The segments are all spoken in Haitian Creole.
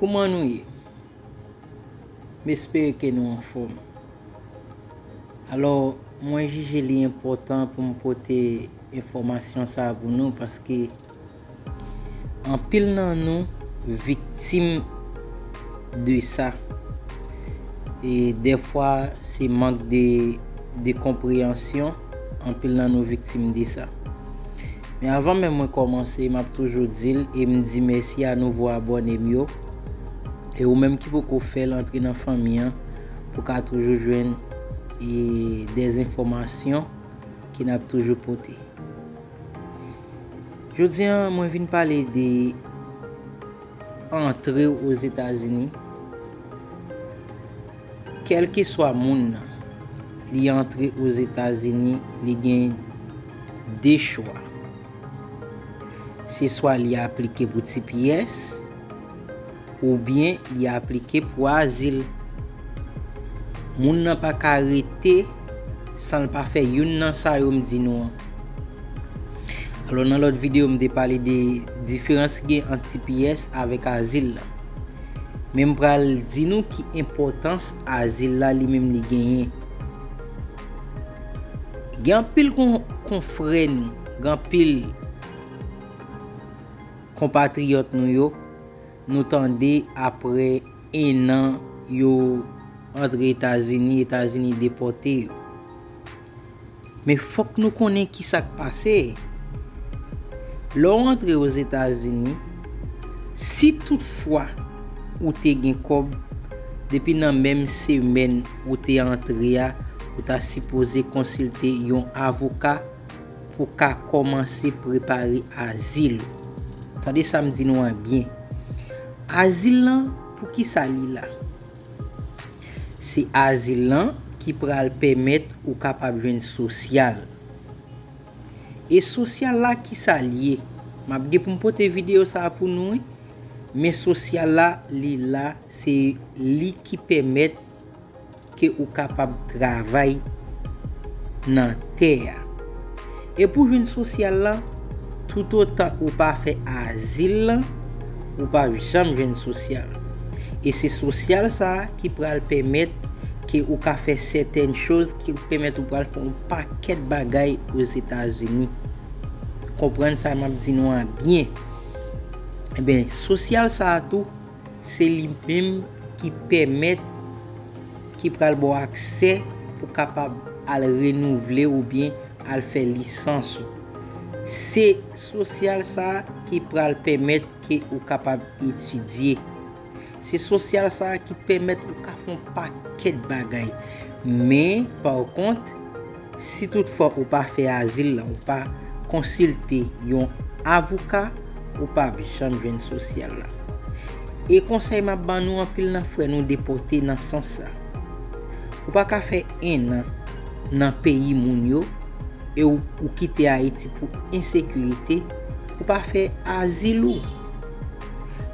Kouman nou ye? M espere ke nou anfòm. Alò, mwen jije li enpòtan pou m pote enfòmasyon sa a pou nou paske anpil nan nou viktim de sa. E dèfwa se mank de konpreyansyon, anpil nan nou viktim de sa. Men avan menm mwen kòmanse map toujou dil em di mèsi a nouvo abònem yo e ou menm ki poko fèl antre nan fanmi an pou ka toujou jwenn e des enfòmasyon ke nap toujou pote. Jodi an mwen vin pale de antre ou ozetazini kelkeswa moun nan li antre ozetazini li gen de chwa. Se swa li aplike pou tps oubyen li aplike pou azil. Moun nan pa ka rete san l pa fè youn nan sa yo m di nou an. Alò nan lòt videyo m te pale de diferans ki gen ant tps avèk azil la. Men m pral di nou ki enpòtans azil la li menm li genyen. Gen anpil konfrè nou, gen anpil konpatriyòt nou yo, nou tande apre 1 an yo antre Etazini, Etazini depòte yo. Men fòk nou konnen ki sa k pase. Lè w antre Ozetazini, si tout fwa ou te gen kòb, depi nan menm semèn, ou te antre a, ou ta sipoze konsilte yon avoka pou ka kòmanse prepare azil ou. Tande sa m di nou an byen. Azil lan, pou ki sa li la? Se azil lan ki pral pèmèt ou kapab jwenn sosyal. E sosyal la ki sa l ye? M ap gen pou m pote videyo sa a pou nou wi. Men sosyal la li la se li ki pèmèt ke ou kapab travay nan tè a. E pou jwenn sosyal la, toutotan ou pa fè azil lan, ou pap janm jwenn sosyal. E se sosyal sa a ki pral pèmèt ke ou ka fè sètèn choz ki pèmèt ou pral fè yon pakèt bagay Ozetazini. Konprann sa map di nou an byen. Enben, sosyal sa a tou, se li menm ki pèmèt, ki pral ba w aksè pou kapab al renouvle oubyen al fè lisans ou. Se sosyal sa a ki pral pèmèt ke ou kapab etidye. Se sosyal sa a ki pèmèt ou ka fon pakèt bagay. Men, pa kont, si tout fwa ou pa fè azil la, ou pa konsilte yon avouka, ou pa ap janm jwenn sosyal la. E konsèy m ap ban nou anpil nan frè nou depote nan sans sa. Ou pa ka fè 1 an nan peyi moun yo e ou kite Ayiti pou ensekirite, ou pa fè azil ou.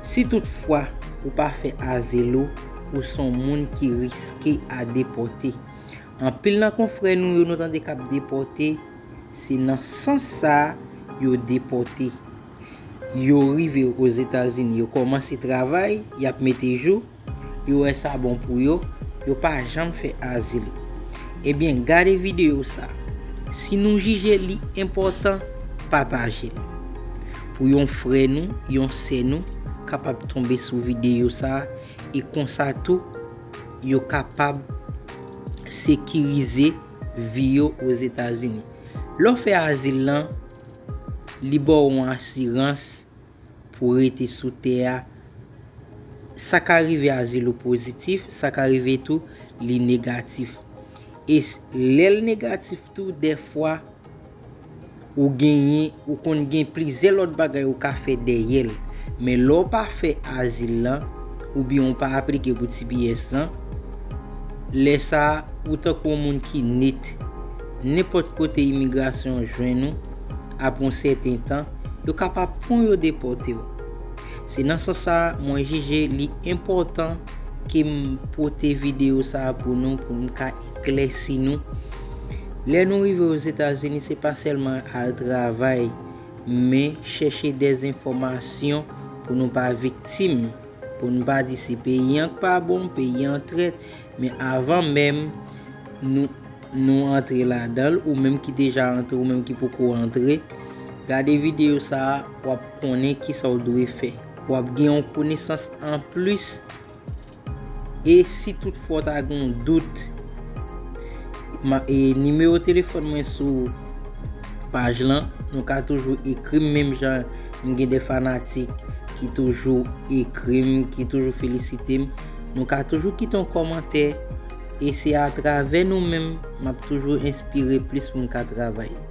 Si tout fwa ou pa fè azil ou, ou son moun ki riske a depòte. Anpil nan konfrè nou yo nou tande kap depòte, se nan sans sa yo depòte. Yo rive Ozetazini, yo kòmanse travay, yap mete jou, yo wè sa bon pou yo, yo pa janm fè azil. Ebyen gade videyo sa. Si nou jije li enpòtan, pataje l. Pou yon frè nou, yon sè nou kapab tonbe sou videyo sa e konsa tou yo kapab sekirize vi yo Ozetazini. Lè w fè azil lan, li ba w yon asirans. pou rete sou tè a, sa ka rive Azilo pozitif, sa ka rive tou li negatif. E lè l negatif tou dèfwa ou genyen, ou konn gen plizyè lòt bagay ou ka fè dèyè l. Men lè w pa fè Azil lan, oubyen ou pa aplike pou tps lan, lè sa a ou tankou yon moun ki nit. Nenpòt kote imigrasyon jwenn ou. Apre yon sèten tan, yo kapab pran w yo depòte w. Se nan sans sa a mwen jije li enpòtan ke m pote videyo sa a pou nou pou m ka eklèsi nou. Lè nou rive Ozetazini se pa sèlman al travay men chèche dezenfòmasyon pou nou pa viktim, pou n pa di se peyi an k pa bon, peyi an trèt, Men avan menm nou antre ladan l, ou menm ki deja antre, ou menm ki poko antre, gade videyo sa a, w ap konnen ki sa w dwe fè. W ap gen yon konesans an plis. E si tout fwa w ta gen yon dout, nimewo telefòn mwen sou paj lan, nou ka toujou ekri m menm jan m gen de fanatik ki toujou ekri m, ki toujou felisite m. Nou ka toujou kite yon kòmantè e se atravè nou menm m ap toujou enspire plis pou m ka travay.